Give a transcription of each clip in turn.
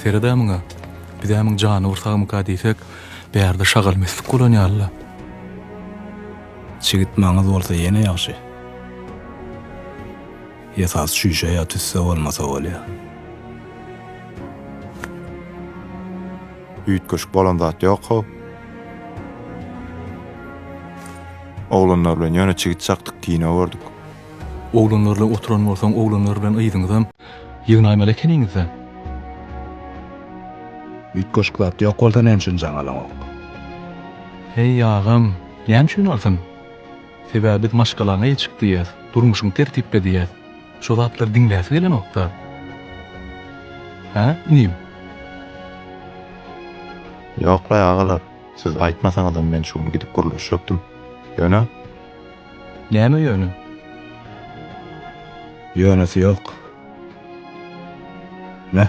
Sered-ä muňa, biz-ä muň jany bir sagmyka diýsek, bärde şagal-meslik bolan ýaly-la. Çigit maňyz bolsa ýene ýagşy. Esasy şüşe ýa tüsse bolmasa bolýa. Üýtgeşik bolan zat ýok-how. Oglanlar bilen ýöne çigit çakdyk kino gördük. Oglanlar bilen oturan bolsaň oglanlar bilen yzyňyzam ýygnaýmaly ekeniňizda. Üýtgeşik zat ýok bolsa näme üçin jaň alaňok. Heý agam, näme üçin alsyn? Sebäbi biz maşgalaňa ýeçik diýýäs, durmuşyň tertipli diýýäs. Şu zatlary diňläsi gelenokda. Hä, inim? Ýok-laý agalar, siz aýtmasaňyzam men şu gün gidip gürleşjekdim. Ýöne. Näme ýöne? Ýönesi ýok. Nä?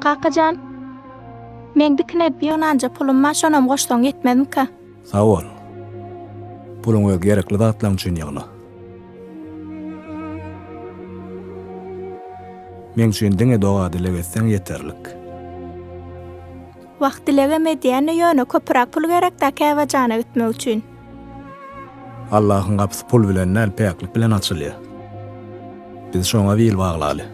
Kaka jan, meň dikin edip ýygnanja pulum bar, şonam goşsaň ýetmezmika? Sag bol. Puluňy öz gerekli zatlaryň üçin ýygna. Meň üçin diňe doga-dileg etseň ýeterlik. Wah, dilegem edýän-de, ýöne köpüräk pul gerek-dä Käbä jana gitmek üçin. Allahyň gapysy pul bilen däl, päklik bilen açylýar. Biz şoňa bil baglaly.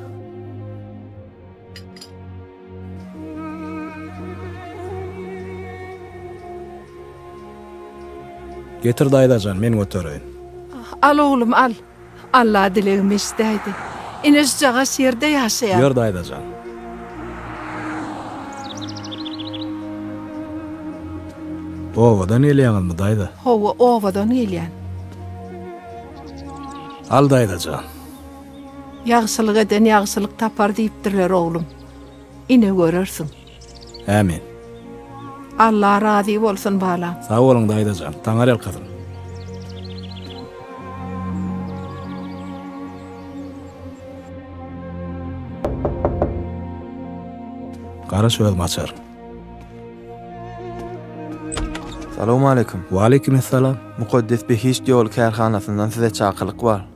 Getir daýzajan, men götereýin. Al oglum, al. Alla dilegimi eşidäýdi. Ine şujagaz şerde ýaşaýan. Ýör daýzajan. Obadan gelýäňizmi daýza? Hawa obadan gelýän. Al daýzajan. Ýagşylyk eden ýagşylyk tapar diýipdirler oglum. Ine görersiň. Amin. Allah razy bolsun balam. Sag boluň daýzajan. Taňar ýalkasyn. Gara çözüm açar. Salowmaleýkim. Waleýkim essalam. Mukaddes behişt ýoly kärhanasyndan size çakylyk bar.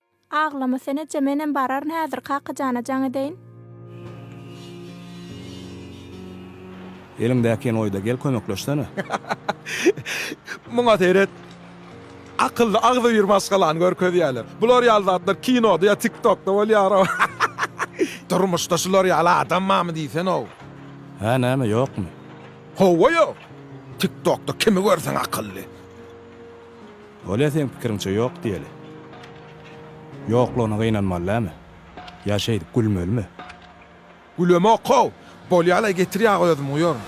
Aglama sen eje menem bararyn häzir kakajana jaň edeýin. Eliňdäki ýenoýda gel kömekleşsene. Muňa seret. Akylly agzybir maşgalany görkezýäler. Bular ýaly zatlar kinoda ýa tiktokda bolýarow. Durmuşda şular ýaly adam barmy diýsenow. Hä näme ýokmy. Hawa ýok. Tiktokda kimi görseň akylly. Bolýa seň pikiriňçe ýok diýeli. Ýoklugyna gynanmaly dämi? Ýa şeýdip gülmelimi? Gülemok-how! Bolýa-laý getir ýagy özüm guýaryn.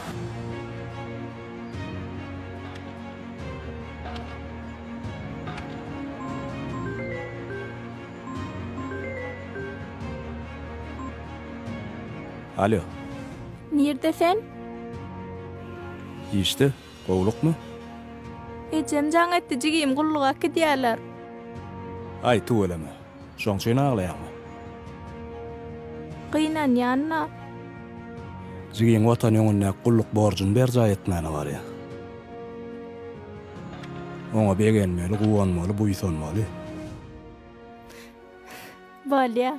Alýo. Nirde sen? Işde. Gowlukmy? Ejem jaň etdi, jigim, gulluga äkidýärler. Aý, tüweleme. Şoň üçin aglaýaňmy? Gynanýan-la. Jigim Watan öňündäki gulluk borjuny berjaý etmäne barýar. Oňa begenmeli, guwanmaly, buýsanmaly. Bolýar.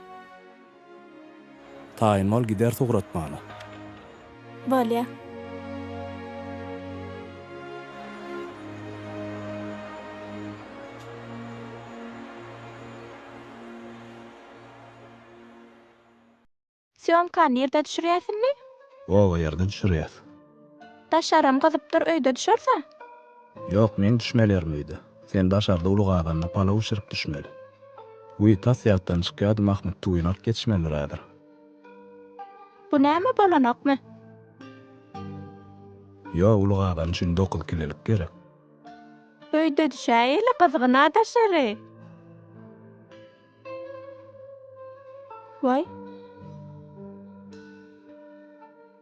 Taýyn bol gider sugratmana. Bolýa. Sýomkany nirde düşürýäsinmi? Oba ýerden düşürýäs. Daşaram gyzypdyr öýde düşerse. Ýok men düşmelerim öýde. Sen daşarda uly gazanda palaw bişirip düşmeli. Wiý tas ýatdan çykýady Mahmyt tuýyny alyp geçmelidir häzir. Bu näme bolanokmy. Ýok uly gazan üçin dokuz kilelik gerek. Öýde düşäýeli gyzgyna daşary. Waý.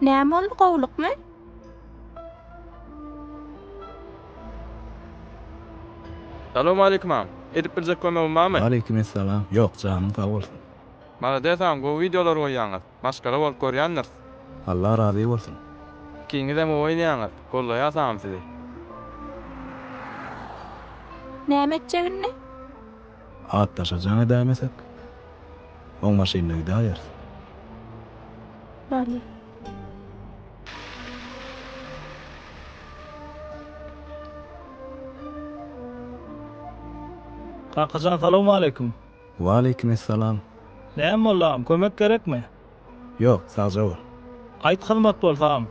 Näme boldy gowlukmy? Salowmaleýkim agam. Edip biljek kömegim barmy? Waleýkim essalam. Ýok janyň sag bolsun. Malades agam gowy wideolar goýýaňyz. Maşgala bolup görýändiris. Allah razy bolsun. Ikiňizem gowy oýnaýaňyz. Gollaýas agam sizi. Näme etjegini? Atdaşa jaň edäýmesek, oň maşynda gidäýeris. Barmy? Kakajan salowmaleýkim. Waleýkim essalam. Näme boldy agam, kömek gerekmi? Ýok, sagja bol. Gaýt hyzmat bolsa agam.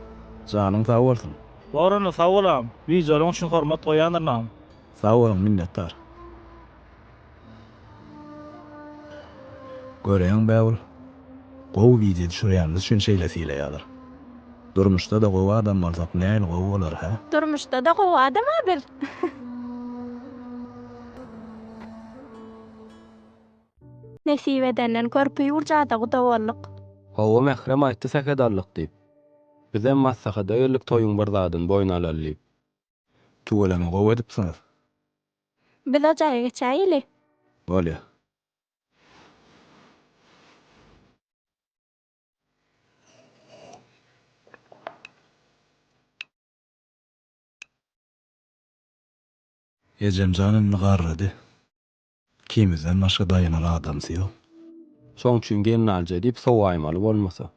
Janyň sag bolsun. Borana sag bol agam. Wideolaryň üçin hormat goýýandyryn agam. Sag boluň minnetdar. Göräýiň bägül gowy wideo düşürýänimiz üçin şeýle sylaýalar. Durmuşda-da gowy adam bolsak nähili gowy bolar hä? Durmuşda-da gowy adama biz. Nesip edenden körpe ýurjada guda bolduk. Hawa Mährem aýtdy sähedallyk diýip. Bizem maslahata geldik toýuň bir zadyny boýun alaly diýip. Tüweleme gowy edipsiňiz. Biz o jaýa geçäýeli. Bolýa. Ejemjan indi garrady. Ikimizden başga daýanar adamsy ýok. Şoň üçin gelnaljy diýip sowaýmaly bolmasa.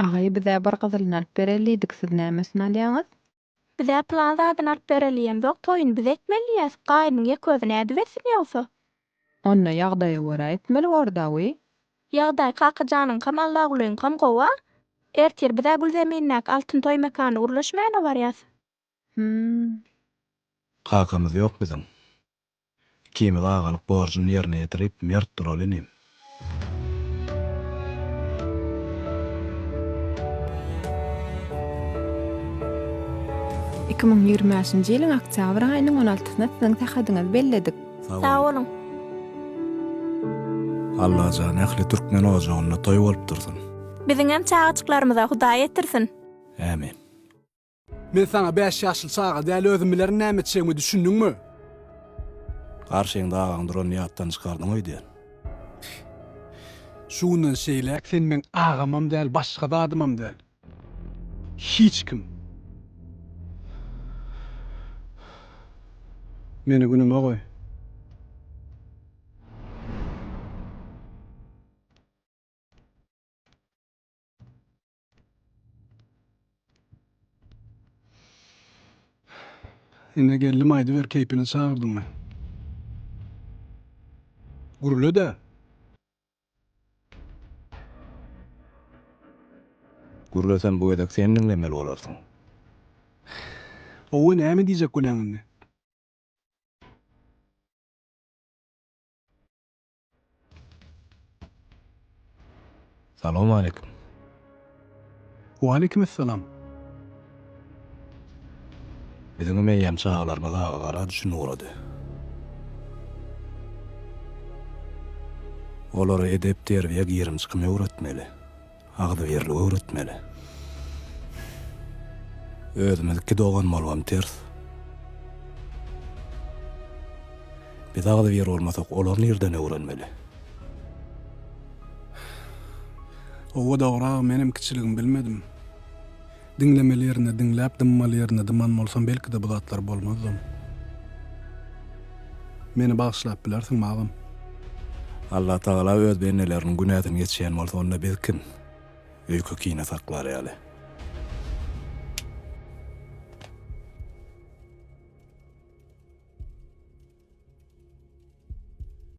Agaý bizä bir gyzylyny alyp bereli diýdik siz näme üçin alýaňyz. Bizä pylan zadyny alyp bereliýemzok toýuny biz etmeliýäs gaýnyň ýek özi nädip etsin ýogsa. Onda ýagdaýa görä etmeli bordawy. Ýagdaý Kakajanyňkam Allagulyňkam gowa. Ertir bizä Gülzemindäki Altyn toý mekanyna gürleşmäne barýas. Hümm. Kakamyz ýok biziň. Ikimiz agalyk borjuny ýerine ýetirip, mert duraly inim. Iki müň ýigrimi bäşinji ýylyň oktýabr aýynyň on altysyna siziň sähedyňyzy belledik. Sag boluň. Allajan ähli türkmen ojagynda toý bolup dursun. Biziňem çagajyklarymyza Hudaý ýetirsin. Ämin. Men saňa bäş ýaşly çaga däl özüm bilerin näme etjegimi düşündiňmi? Garşyňda agaň duranyny ýatdan çykardyň öýdýän. Şu günden şeýläk sen meň agamam däl başga zadymam däl. Hiç kim. Meni günüme goý. Ine geldim aýdyber keýpini çagyrdyňmy? Gürle-de. Gürlesem bu gezek sen diňlemeli bolarsyň. Hawa näme diýjek bolýaň indi? Salowmaleýkim. Waleýkim essalam. Biziňem eýýäm çagalarymyz aga gara düşün ugrady. Olara edep-terbiýe girim-çykym öwretmeli. Agzybirligi öwretmeli. Özümiz iki dogan bolubam ters. Biz agzybir bolmasak, olar nirden öwrenmeli? Howwa dogry aga menem kiçiligim bilmedim. Diňlemeli ýerinde diňläp, dymmaly ýerinde dyman bolsam, belki-de bu zatlar bolmazdym. Meni bagyşlap bilersiňmi, agam? Allatagala öz bendeleriniň günäsini geçýän bolsa, onda biz kim? Öýke-kine saklar ýaly.